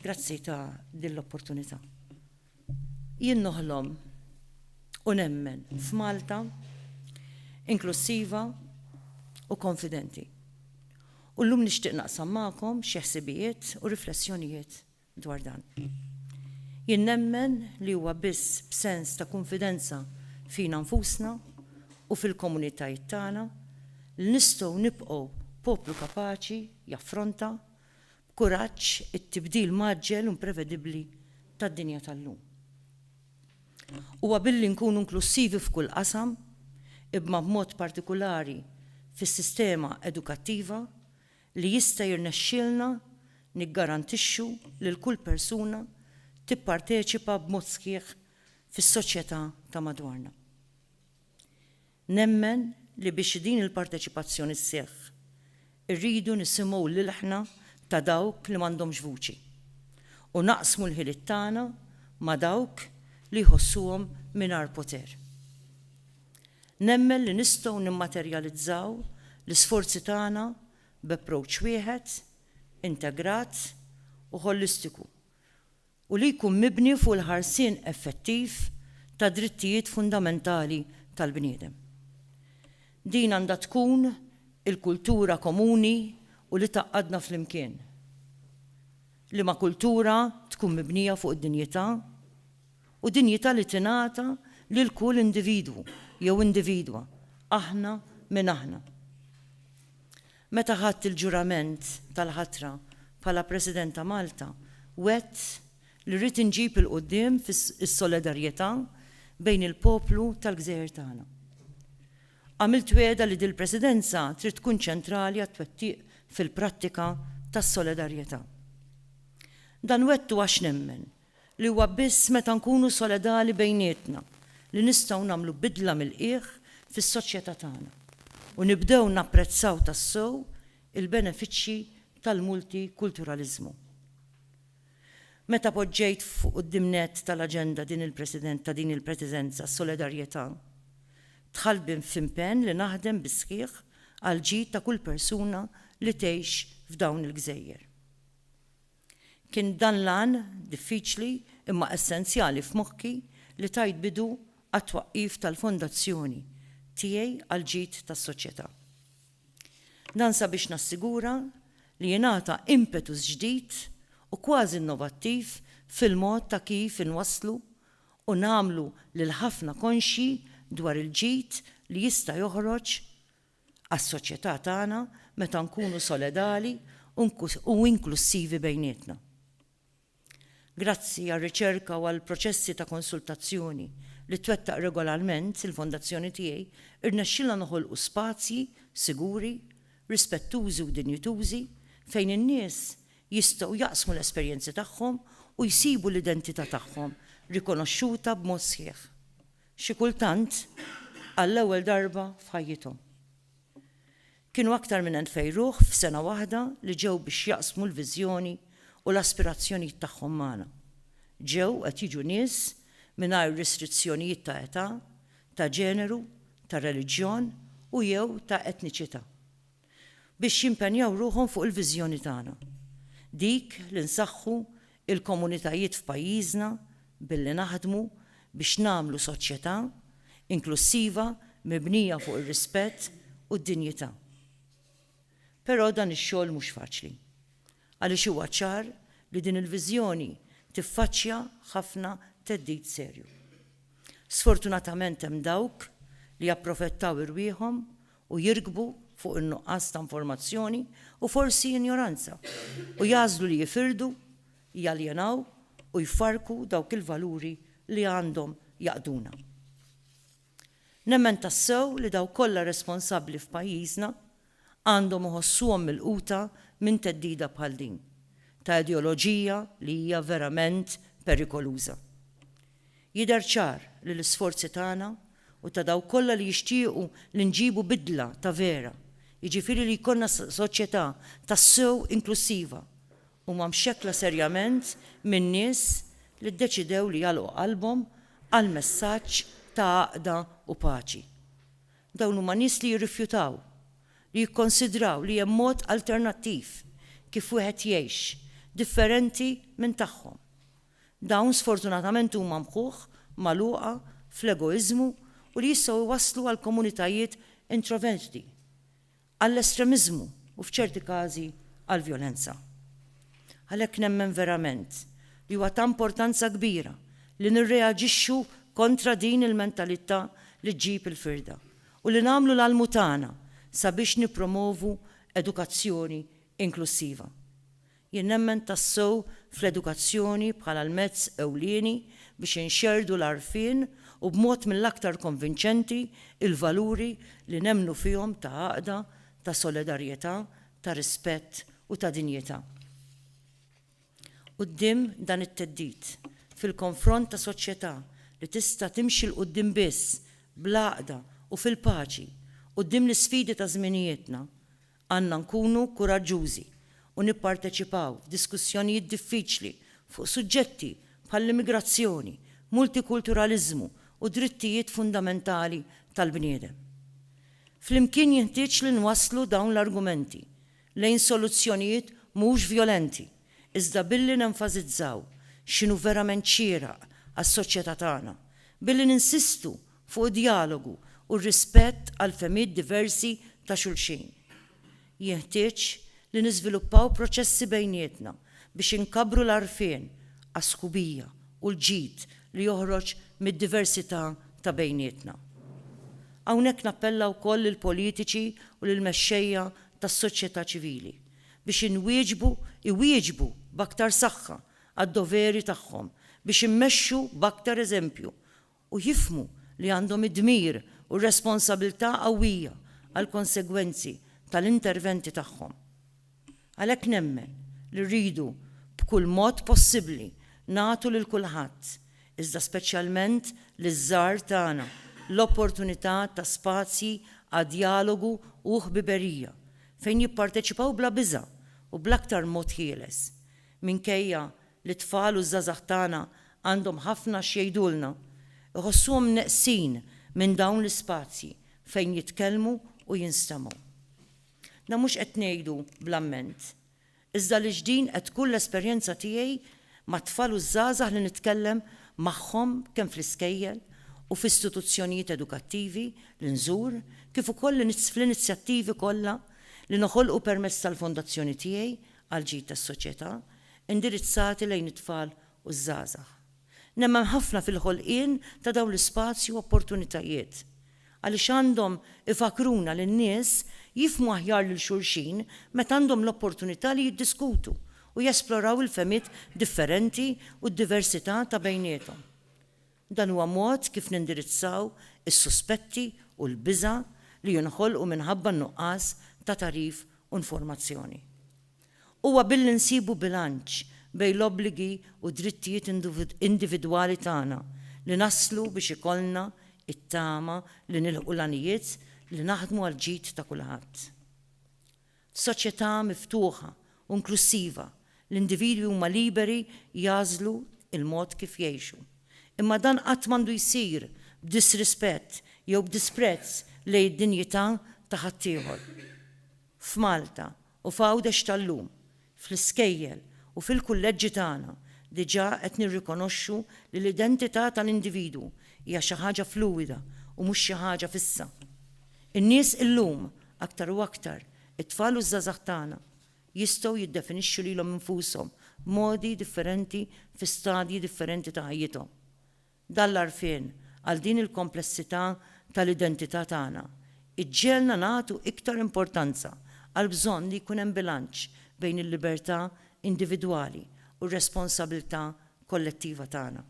Grazzi ta' din l-opportunità. Jien noħlom u nemmen f'Malta inklussiva u konfidenti. U llum nixtieq naqsam magħkom xi ħsibijiet u riflessjonijiet dwar dan. Jien nemmen li huwa biss b'sens ta' kunfidenza fina nfusna u fil-komunitajiet tagħna li nistgħu nibqgħu poplu kapaċi jaffronta b'kuraġġ it-tibdil mgħaġġel u imprevedibbli tad-dinja tal-lum. Huwa billi nkunu inklussivi f'kull qasam, ibma b'mod partikulari fis-sistema edukattiva, li jista' jirnexxielna niggarantixxu lil kull persuna tipparteċipa b'mod sħiħ fis-soċjetà ta' madwarna. Nemmen li biex din il-parteċipazzjoni sseħħ, irridu nisimgħu l-ilħna ta' dawk li m'għandhomx vuċi u naqsmu l-ħiliet tagħna ma' dawk li jħossuhom mingħajr poter. Nemmen li nistgħu nimmaterjalizzaw l-isforzi tagħna b'approach wieħed, integrat u ħolistiku u li jkun mibni fuq il-ħarsien effettiv tad-drittijiet fundamentali tal-bniedem. Din għandha tkun il-kultura komuni u li tgħaqqadna flimkien, liema kultura tkun mibnija fuq id-dinjità, u dinjità li tingħata lil kull individwu jew individwa, aħna min aħna. Meta ħadt il-ġurament tal-ħatra bħala President ta' Malta, wgħedt li rrid inġib 'il quddiem is-solidarjetà bejn il-poplu tal-gżejjer tagħna. Għamilt wegħda li dil-Presidenza trid tkun ċentrali għat-twettiq fil-prattika tas-solidarjetà. Dan wegħdtu għax nemmen li huwa biss meta nkunu soledali bejnietna li nistgħu nagħmlu bidla mill-qiegħ fis-soċjetà tagħna u nibdew napprezzaw tassew il-benefiċċji tal-multikulturaliżmu. Meta poġġejt fuq quddiem nett tal-aġenda din il-President ta' din il-Presidenza s-solidarjetà, dħalt b'in f'impenn li naħdem bis-sħiħ għall-ġid ta' kull persuna li tgħix f'dawn il-gżejjer. Kien dan l-għan, diffiċli imma essenzjali f'moħħi, li tajt bidu għat-twaqqif tal-Fondazzjoni tiegħi għall-ġid tas-soċjetà. Dan sabiex nassigura li jingħata impetus ġdid u kważi innovattiv fil-mod ta' kif inwasslu u nagħmlu lil ħafna konxji dwar il-ġid li jista' joħroġ għas-soċjetà tagħna meta nkunu soledali u inklussivi bejnietna. Grazzi għar-riċerka u għall-proċessi ta' konsultazzjoni li twettaq regolarment il-Fondazzjoni tiegħi rnexxilna noħolqu spazji siguri, rispettużi u dinjitużi fejn in-nies jistgħu jaqsmu l-esperjenzi tagħhom u jsibu l-identità tagħhom rikonoxxuta b'mod sħiħ. xi kultant għall-ewwel darba f'ħajjithom. Kienu aktar minn elfej ruħ f'sena waħda li ġew biex jaqsmu l-viżjoni u l-aspirazzjonijiet tagħhom magħna. Ġew qed jiġu nies mingħajr restrizzjonijiet ta' età, ta' ġeneru, ta' reliġjon u jew ta' etniċità. biex jimpenjaw ruħhom fuq il-viżjoni tagħna, dik li nsaħħu l-komunitajiet f'pajjiżna billi naħdmu biex nagħmlu soċjetà inklussiva mibnija fuq ir-rispett u d-dinjità. Però dan ix-xogħol mhux faċli, għaliex huwa ċar li din il-viżjoni tiffaċċja ħafna theddid serju. Sfortunatament hemm dawk li japprofettaw irwieħhom u jirkbu fuq in-nuqqas ta' informazzjoni u forsi injoranza, u jagħżlu li jifirdu, jaljenaw u jfarrku dawk il-valuri li għandhom jgħaqqduna. Nemmen tassew li dawk kollha responsabbli f'pajjiżna għandhom iħossuhom milquta minn theddida bħal din, ta' ideoloġija li hija verament perikoluża. Jidher ċar li l-isforzi tagħna u ta' dawk kollha li jixtiequ li nġibu bidla ta' vera, jiġifieri li jkollna soċjetà tassew inklussiva, huma mxekkla serjament minn nies li ddeċidew li jagħlqu qalbhom għal messaġġ ta' għaqda u paċi. Dawn huma nies li jirrifjutaw li jikkonsidraw li hemm mod alternattiv kif wieħed jgħix, differenti minn tagħhom. Dawn sfortunatament huma mħuħ, magħluqa fl-egoiżmu u li jistgħu jwasslu għal komunitajiet introverti, għall-estremiżmu u f'ċerti każi għall-vjolenza. Għalhekk nemmen verament li huwa ta' importanza kbira li nirreaġixxu kontra din il-mentalità li ġġib il-firda u li nagħmlu l-almu tagħna sabiex nippromovu edukazzjoni inklussiva. Jien nemmen tassew fl-edukazzjoni bħala l-mezz ewlieni biex inxerrdu l-għarfien u b'mod mill-aktar konvinċenti l-valuri li nemmnu fihom ta' għaqda, ta' solidarjetà, ta' rispett u ta' dinjità. Quddiem dan it-theddid, fil-konfront ta' soċjetà li tista' timxi 'l quddiem biss bl-għaqda u fil-paċi, quddiem l-isfidi ta' żminijietna, Għandna nkunu kuraġġużi u nipparteċipaw f'diskussjonijiet diffiċli fuq suġġetti bħall-immigrazzjoni, multikulturaliżmu u drittijiet fundamentali tal-bniedem. Flimkien jinħtieġ li nwasslu dawn l-argumenti lejn soluzzjonijiet mhux vjolenti, iżda billi nenfasizzaw x'inhu verament xieraq għas-soċjetà tagħna, billi ninsistu fuq id-djalogu u r-rispett għall-fehmiet diversi ta' xulxin. Jinħtieġ li niżviluppaw proċessi bejnietna biex inkabbru l-għarfien għas-sħubija u l-ġid li joħroġ mid-diversità ta' bejnietna. Hawnhekk nappella wkoll lill-politiċi u lill-mexxejja tas-soċjetà ċivili biex inwieġbu iwieġbu b'aktar saħħa għad-doveri tagħhom biex immexxu b'aktar eżempju u jifhmu li għandhom id-dmir u r-responsabilità qawwija għall-konsegwenzi tal-interventi tagħhom. Għalhekk nemmen li rridu b'kull mod possibbli nagħtu lil kulħadd, iżda speċjalment liż-żgħar tagħna, l-opportunità ta' spazji għad djalogu u ħbiberija fejn jipparteċipaw bla biża' u bl-aktar mod ħieles, minkejja li t-tfal u ż-żgħażagħ tagħna għandhom ħafna x'jgħidulna. Iħossuhom neqsin minn dawn l-ispazji fejn jitkellmu u jinstemgħu. Dan mhux qed ngħidu bl-amment, iżda għaliex din qed tkun l-esperjenza tiegħi mat-tfal u ż-żgħażagħ li nitkellem magħhom kemm fl-iskejjel u f'istituzzjonijiet edukattivi li nżur kif ukoll fl-inizjattivi kollha li noħolqu permezz tal-fondazzjoni tiegħi għall-ġid tas-soċjetà indirizzati lejn it-tfal u ż-żgħażagħ. Nemmen ħafna fil-ħolqien ta' dawn l-ispazji u opportunitajiet għaliex għandhom ifakkruna li n-nies jifhmu aħjar lil xulxin meta għandhom l-opportunità li jiddiskutu u jesploraw il-fehmiet differenti u d-diversità ta' bejniethom. Dan huwa mod kif nindirizzaw is-suspetti u l-biża' li jinħolqu minħabba n-nuqqas ta' tagħrif u informazzjoni. Huwa billi nsibu bilanċ bejn l-obbligi u d-drittijiet individwali tagħna li naslu biex ikollna t-tama li nilħqu l-għanijiet li naħdmu għall-ġid ta' kulħadd. F'soċjetà miftuħa u inklussiva, l-individwi huma liberi jagħżlu l-mod kif jgħixu. Imma dan qatt m'għandu jsir b'disrispett jew b'disprezz lejn id-dinjità ta' ħaddieħor. F'Malta u f'Għawdex tal-lum, Fl-iskejjel u fil-kulleġġi tagħna diġà qed nirrikonoxxu li l-identità tal-individwu hija xi ħaġa fluwida u mhux xi ħaġa fissa. In-nies illum, aktar u aktar, it-tfal u ż-żgħażagħ tagħna, jistgħu jiddefinixxu lilhom infushom b'modi differenti fi stadji differenti ta' ħajjithom. Dan l-għarfien għal din il-komplessità tal-identità tagħna jġegħelna nagħtu iktar importanza għall-bżonn li jkun hemm bilanċ bejn il-libertà individwali u r-responsabilità kollettiva tagħna.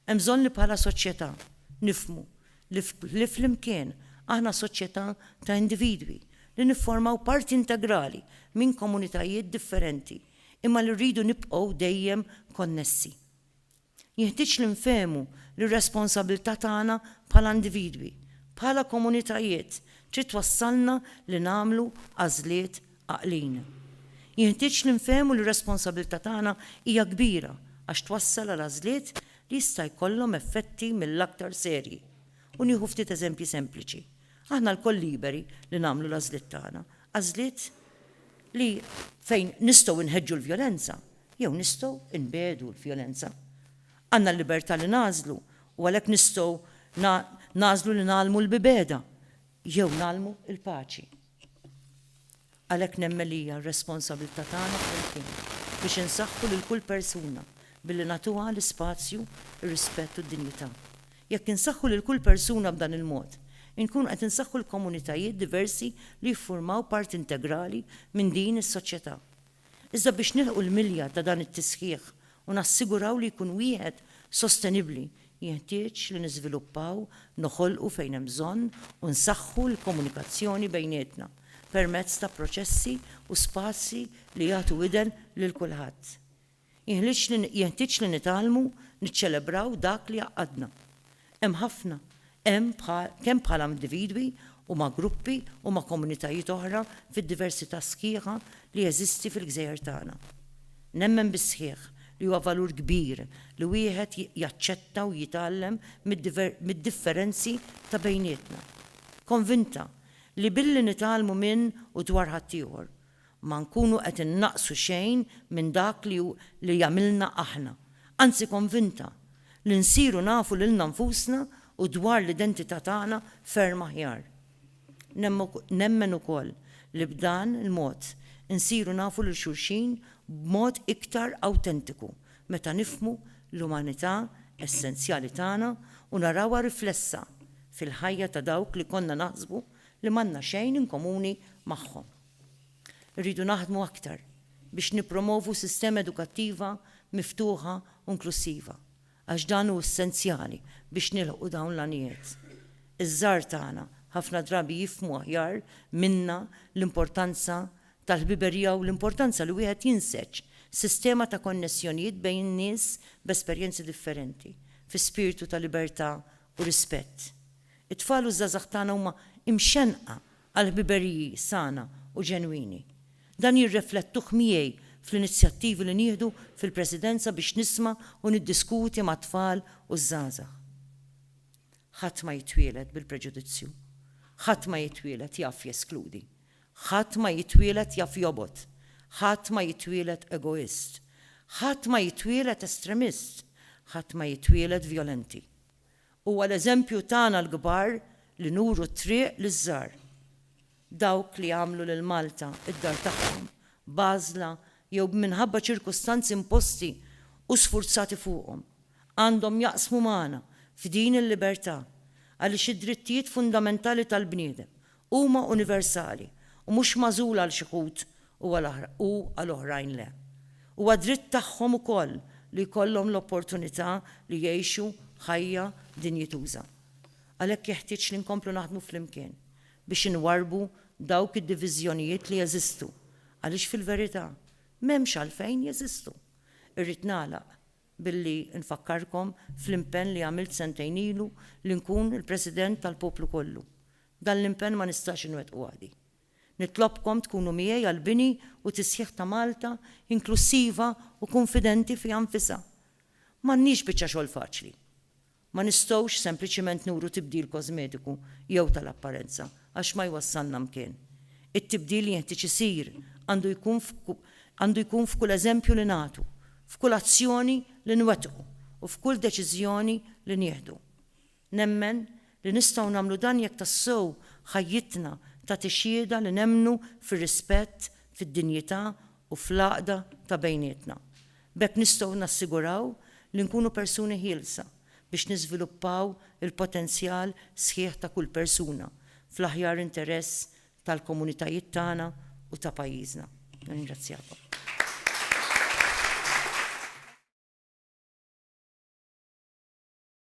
Hemm bżonn li bħala soċjetà nifhmu li li flimkien aħna soċjetà ta' individwi li nifformaw parti integrali minn komunitajiet differenti imma li rridu nibqgħu dejjem konnessi. Jeħtieġ li nfehmu li r-responsabbiltà tagħna bħala individwi, bħala komunitajiet, trid twassalna li nagħmlu għażliet għaqlin. Jeħtieġ li nfehmu li r-responsabbiltà tagħna hija kbira għax twassal għal għażliet li jista' jkollhom effetti mill-aktar serji. U nieħu ftit eżempji sempliċi. Aħna lkoll liberi li nagħmlu l-għażliet tagħna, għażliet li fejn nistgħu nħeġġu l-vjolenza, jew nistgħu nbiegħdu l-vjolenza. Għandna l-libertà li nagħżlu u għalhekk nistgħu nagħżlu li ngħallmu l-bibegħda jew ngħallmu l-paċi. Għalhekk nemmen li hija r-responsabilità tagħna flimkien biex insaħħu lil kull persuna billi nagħtuha l-ispazju, ir-rispett u d-dinjità. Jekk insaħħu lil kull persuna b'dan il-mod, inkunu qed insaħħu l-komunitajiet diversi li jiffurmaw parti integrali minn din is-soċjetà. Iżda biex nilħqu l-milja ta' dan it-tisħiħ u nassiguraw li jkun wieħed sostenibbli, jinħtieġ li niżviluppaw, noħolqu fejn hemm bżonn u nsaħħu l-komunikazzjoni bejnietna permezz ta' proċessi u spazji li jagħtu widen lil kulħadd. Jenħtieġ li nitgħallmu niċċelebraw dak li jgħaqqadna. Hemm ħafna, hemm kemm bħala individwi u ma' gruppi u ma' komunitajiet oħra fid-diversità sħiħa li jeżisti fil-gżejjer tagħna. Nemmen bis-sħiħ li huwa valur kbir li wieħed jaċċetta u jitgħallem mid-differenzi ta' bejnietna. Konvinta li billi nitgħallmu minn u dwar ħaddieħor, ma nkunu qed innaqqsu xejn minn dak li hu li jagħmilna aħna. Anzi konvinta li nsiru nafu lilna nfusna u dwar l-identità tagħna ferm aħjar. Nemmen ukoll li b'dan il-mod insiru nafu lil xulxin b'mod iktar awtentiku meta nifhmu l-umanità essenzjali tagħna u narawha riflessa fil-ħajja ta' dawk li konna naħsbu li m'għandna xejn inkomuni magħhom. Irridu naħdmu aktar biex nippromovu sistema edukattiva miftuħa u inklussiva, għax dan hu essenzjali biex nilħqu dawn l-għanijiet. Iż-żgħar tagħna ħafna drabi jifhmu aħjar minna l-importanza tal-ħbiberija u l-importanza li wieħed jinseġ sistema ta' konnessjonijiet bejn nies b'esperjenzi differenti, fi spirtu ta' libertà u rispett. It-tfal u ż-żgħażagħ tagħna huma imxennqa għal ħbiberiji sana u ġenwini. Dan jirreflettuh miegħi fl-inizjattivi li nieħdu fil-Presidenza biex nisma' u niddiskuti mat-tfal u ż-żgħażagħ. Ħadd ma jitwieled bil-preġudizzju. Ħadd ma jitwieled jaf jeskludi. Ħadd ma jitwieled jaf jobgħod. Ħadd ma jitwieled egoist. Ħadd ma jitwieled estremist. Ħadd ma jitwieled vjolenti. Huwa l-eżempju tagħna l-kbar li nuru t-triq liż-żgħar. Dawk li għamlu lil Malta d-dar tagħhom, b'għażla jew b'minħabba ċirkustanzi imposti u sfurzati fuqhom, għandhom jaqsmu magħna f'din il-libertà għaliex id-drittijiet fundamentali tal-bniedem Huma universali u mhux magħżula għal xi wħud u għal oħrajn le. Huwa dritt tagħhom ukoll li jkollhom l-opportunità li jgħixu ħajja dinjituża. Għalhekk jeħtieġ li nkomplu naħdmu flimkien biex inwarrbu dawk id-diviżjonijiet li jeżistu għaliex fil-verità m'hemmx għalfejn jeżistu. Irrid nagħlaq billi nfakkarkom fl-impenn li għamilt sentejn ilu li nkun il-President tal-poplu kollu. Dan l-impenn ma nistax inwettqu waħdi. Nitlobkom tkunu miegħi għall-bini u tisħiħ ta' Malta inklussiva u kunfidenti fiha nfisha. M'għandniex biċċa xogħol faċli. Ma nistgħux sempliċiment nuru tibdil kożmetiku jew tal-apparenza għax ma jwassalna mkien. It-tibdil li jenħtieġ isir għandu jkun għandu jkun f'kull eżempju li nagħtu, f'kull azzjoni li nwettqu u f'kull deċiżjoni li nieħdu. Nemmen li nistgħu nagħmlu dan jekk tassew ħajjitna tagħti xhieda li nemmnu fir-rispett, fid-dinjità u fl-għaqda ta' bejnietna. B'hekk nistgħu nassiguraw li nkunu persuni ħielsa biex niżviluppaw il-potenzjal sħiħ ta' kull persuna fl-aħjar interess tal-komunitajiet tagħna u ta' pajjiżna. Nirringrazzjakom.